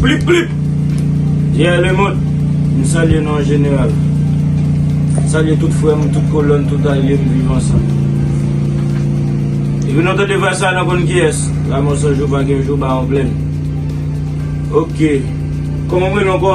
Plip plip Ye le moun M salye nou an jeneral M salye tout frè m, tout kolon, tout alye m viv ansan Epi nou tande vwa sa nou konn kiyès La mò san jou pa gen jou ba an plèn Ok Kòman m rele ankò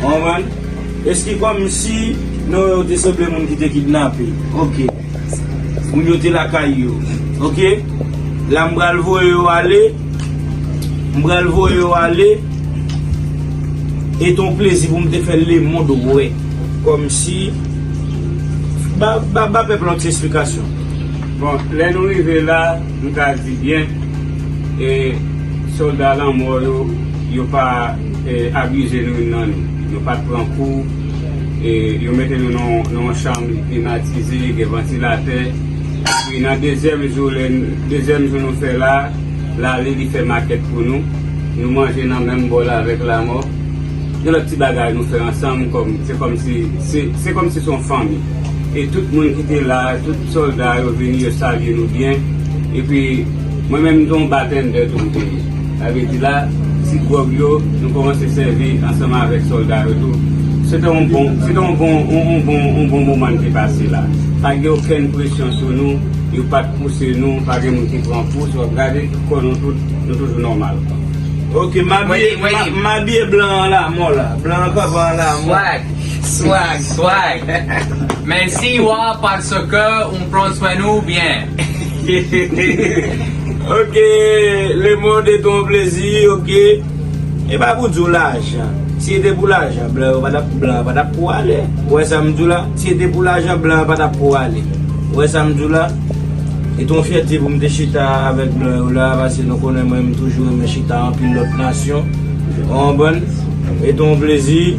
Ou konprann? Eski kòm si non yo te sanble moun ki te kidnape. Ok. Moun yo te lakay yo. Ok. La m pral voye yo ale. M pral voye yo ale. E ton plezi pou m te fè le mond wè. Kòm si. Ba pèp la yon ti esplikasyon. Bon, lè nou rive la. M ka di byen e solda lanmò yo, yo pa abize nou youn nan nou. Nou pa t pran kou. E yo mete nou nan yon chanm klimatize, gen vantilatè. Epi nan dezyèm jou, lè dezyèm jou nou fè la, lari li fè makèt pou nou. Nou manje nan menm bòl avèk lanmò. Gen lòt ti bagay nou fè ansanm kòm se kòm si se kòm si se yon fanmi. E tout moun ki te la, tout. Solda yo vini yo salye nou byen epi mwen menm m se yon bartender tou m te ye sa vle di la ti gwòg yo nou kòmanse sèvi ansanm avèk solda yo tou se te yon bon se te yon bon yon bon yon bon moman n te pase la pa gen okenn presyon sou nou yo pa t pouse nou pa gen moun ki pran pous w ap gade tout kò nou tout nou toujou nòmal ok m abiye m abiye blan an lamò la blan an pa ban lamò. Swag swag Men si wa paske ou pran swen nou byen Ok le monde est ton plezi ok E pa pou di w lajan Si e te pou lajan blan yo pa tap blan yo pa tap pou ale Ou wè sa m di w la Si e te pou lajan blan yo pa tap pou ale Ou wè sa m di w la E ton fyète pou m te chita avèk blan yo la Pase nou konnen mwen m toujou renmen chita anpil lòt nasyon Ou konprann E ton plezi.